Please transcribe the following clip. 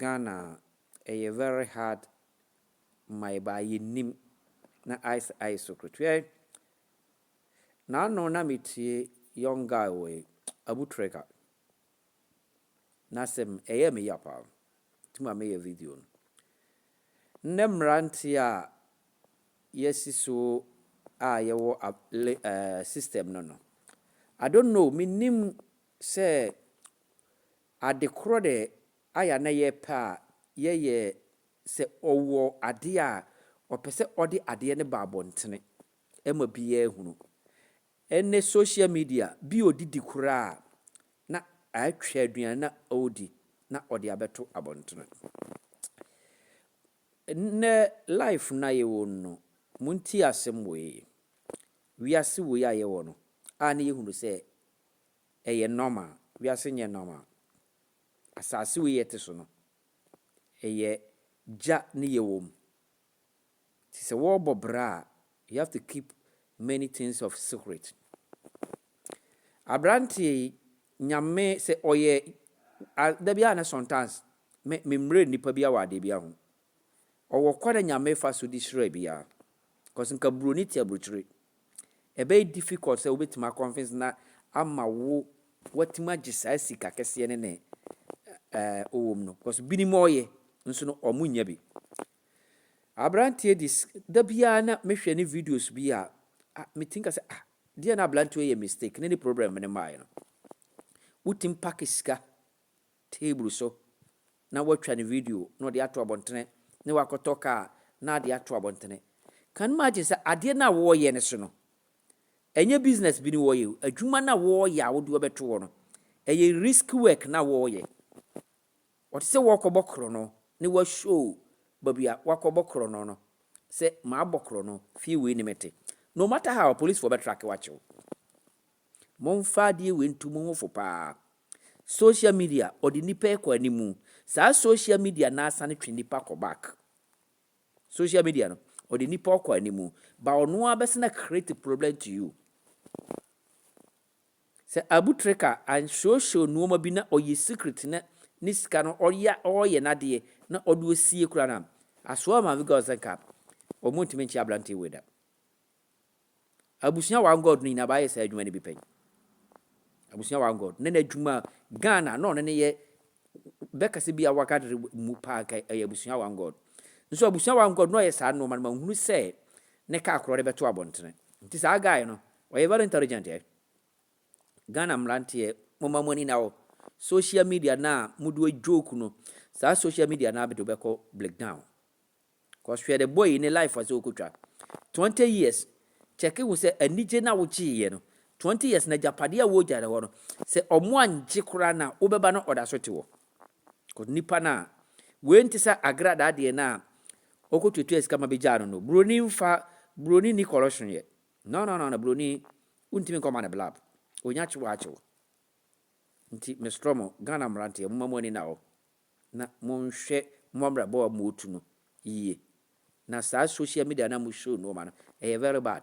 Ghana ɛyɛ very hard ma yɛ baa yɛ nim na ice ice so koro twɛ naano na me tie young guy wei abu treka na sɛm ɛyɛ me ya paa ti ma me yɛ video no nnɛ mmeranteɛ a yɛ si so a yɛ wɔ system no no I don't know me nim sɛ Ade korɔ dɛ ayɛ a na yɛpɛ a yɛyɛ sɛ ɔwɔ adeɛ a ɔpɛ sɛ ɔde adeɛ no ba abɔntene ma biaa hunu. Ɛnɛ social media, bi ɔdidi koraa a na atwa aduane no a ɔredi na ɔde abɛto abɔntene. Nnɛ life no a yɛwɔ mu no, montie asɛm wei, wiase wei a yɛwɔ no a na yɛhunu sɛ Ɛyɛ normal, wiase nyɛ normal. Asase wei yɛte so no, ɛyɛ gya ne yɛwɔ mu. Nti sɛ wɔɔbɔ bra a, you have to keep many things of secret. Abranteɛ yi, Nyame sɛ ɔyɛ, dabi a na sometimes me mmerɛ nnipa bi awadeɛ bi aho, Ɔwɔ kwan a Nyame fa so de hyira biaa cos nka broni te abrukyire ɛbɛyɛ difficult sɛ wobɛtumi a convince na ama wo watumi agye saa sika kɛseɛ no ne ɛɛ ɔwom no cos binom ɔɔyɛ nso no ɔmo nnya bi. Abranteɛ dis da biaa na me hwɛ ne videos bi a ah me tinka sɛ ah deɛ na abranteɛ ɔyɛ mistake ne ne problem no maaɛ no wotumi pack sika table so na watwa ne video na ɔde ato abɔntene na wakɔtɔ kaa na ade ato abɔntene. Can imagine sɛ adeɛ no a wɔreyɛ no so no, ɛnyɛ business bi ne wɔreyɛ o, adwuma no a wɔreyɛ a wode wɔbɛto hɔ no, ɛyɛ risk work na wɔreyɛ. Ɔte sɛ wɔrekɔbɔ korɔno ne wɔashow baabi a wakɔbɔ korɔno no sɛ mabɔ korɔno, fie wei ne mete. No matter how, apolisifoɔ bɛtrake wo akye wo. Momfa adeɛ wei nto mo ho fo paa. Social media ɔde nnipa yi kɔ anim. Saa social media no ara sane twe nnipa kɔ back. Social media no ɔde nnipa ɔkɔ anim. Ba ɔno ara bɛsene a create problem to you. Sɛ Abu Trika anhyeohyew nneɛma bi na ɔyɛ secret na ne sika no ɔyɛ ɔyɛ n'adeɛ na ɔde osie kura no a, asoa maame girls nka wɔn ntumi nkyɛ aberanteɛ wei da. Abusua One God no nyinaa bɛayɛ saa adwuma no bi pɛn. Abusua One God, na n'adwuma Ghana na ɔno ne yɛ bɛkasa bi a wɔagadere mu paa nka ɛyɛ Abusua One God. Nso Abusua One God na ɔyɛ saa nneɛma no ma nhunu sɛ ne kaa korɔ de bɛto abɔntene. Nti saa guy no, ɔyɛ very intelligent eh. Ghana mmeranteɛ, momma mo ani na hɔ. Social media no a mode joke no, saa social media no ara bɛde wobɛkɔ breakdown. cos hwɛ ne boy yi ne life a sɛ ɔkɔtwa twenty years check hu sɛ anigye na wogyeeɛ no twenty years na agyapadeɛ a wɔgya no hɔ no sɛ ɔmo angye koraa na wobɛba no ɔda so te hɔ cos nipa no a wei nte sɛ agradaa deɛ no a ɔkɔtuatua sika ma bɛgyaa no no buroni mfa buroni ni corruption yɛ no no no no buroni wontumi nkɔma no blab ɔnya kyew akyew nti mestrɔ mo Ghana mmeranteɛ moma mo ani na hɔ na monhwɛ mo abrabɔ a motu no yie na saa social media no a mo show nnoɔma no ɛyɛ very bad.